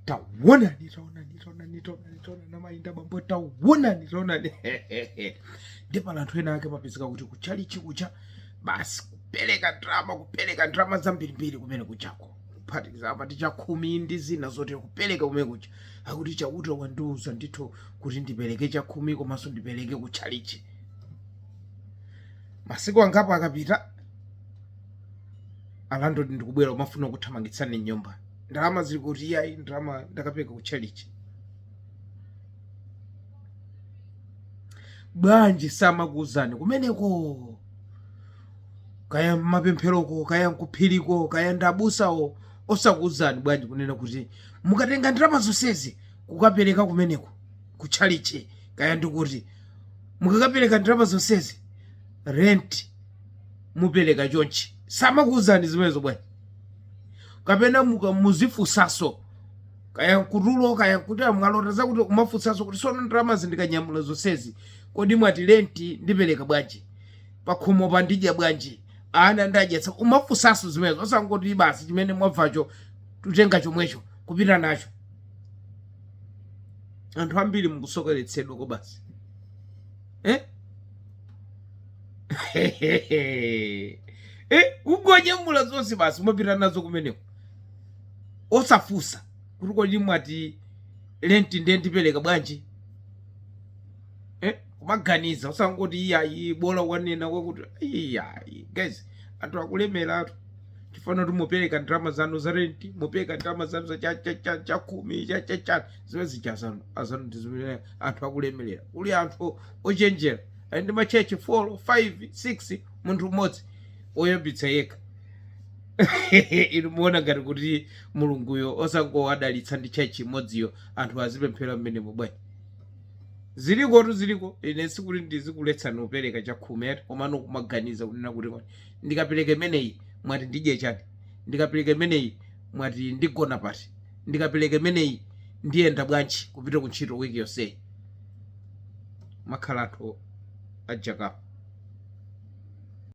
tawonani tawonani tawonani tawonani tawonani amayi ndi abambo tawonani tawonani ndipo pali anthu ena ake amapezeka kuti kuchalichi kuja basi kupereka ndalama kupereka ndalama zambirimbiri kumene kujako kuphatikiza apa ndi chakhumi ndi zina zotero kupereka kumene kuja akuti chauta wandiuza ndithu kuti ndipereke chakhumi komanso ndipereke kuchalichi masiku angapo akapita alandilodi ndikubwera kumafuna kuthamangitsani m'nyumba ndalama zili kuti iyayi ndalama ndakapereka ku chalichi bwanji samakuuzani kumeneko kaya m'mapempheroko kaya nkuphiriko kaya ndabusawo osakuuzani bwanji kunena kuti mukatenga ndalama zonsezi kukapereka kumeneko ku chalichi kaya ndikuti mukakapereka ndalama zonsezi rent mupereka chonchi samakuuzani zimenezo bwanji kapena muka- muzifunsaso kaya kutulo kaya kuti mwalota zakuti kumafunsaso kuti sono ndalama zindikanyamula zonsezi kodi mwati lenti ndipereka bwanji pakhomo pa ndidya bwanji ana ndiwadyetsa kumafunsaso zimenezo osangoti basi chimene mwabvacho kutenga chomwecho kupita nacho anthu ambiri mukusokeretsedwa kwabasi eh? eh, kungonyamula zonse basi kumapita nazo kumeneko osafusa kuti kodi mwati lenti ndiye ndipereka bwanji eh? kumaganiza osangoti iyayi bola wanena kwakuti iyayi guys anthu akulemeratu chifukwa kuti mupereka ndalama zanu za renti mupereka ndalama zanu za chakhumi cha zimene zija zanuzanu ndi zimene anthu akulemerera kuli anthu ochenjera ali ndi machechi 4 5 6 munthu mmodzi oyambitsa yekha inu muona ngati kuti mulunguyo osangowadalitsa ndi chechi imodziyo anthu azipemphera mmenemo bwanji ziliko tu ziliko ine sikuti ndizikuletsani kupereka chakhumi ayi komano kumaganiza kunena kuti kwani ndikapereka imeneyi mwati ndidye chani ndikapereka imeneyi mwati ndigona pati? ndikapeleka imeneyi ndiyenda bwanji kupita ku ntchito week yonseyi? kumakhala anthu a jackapp.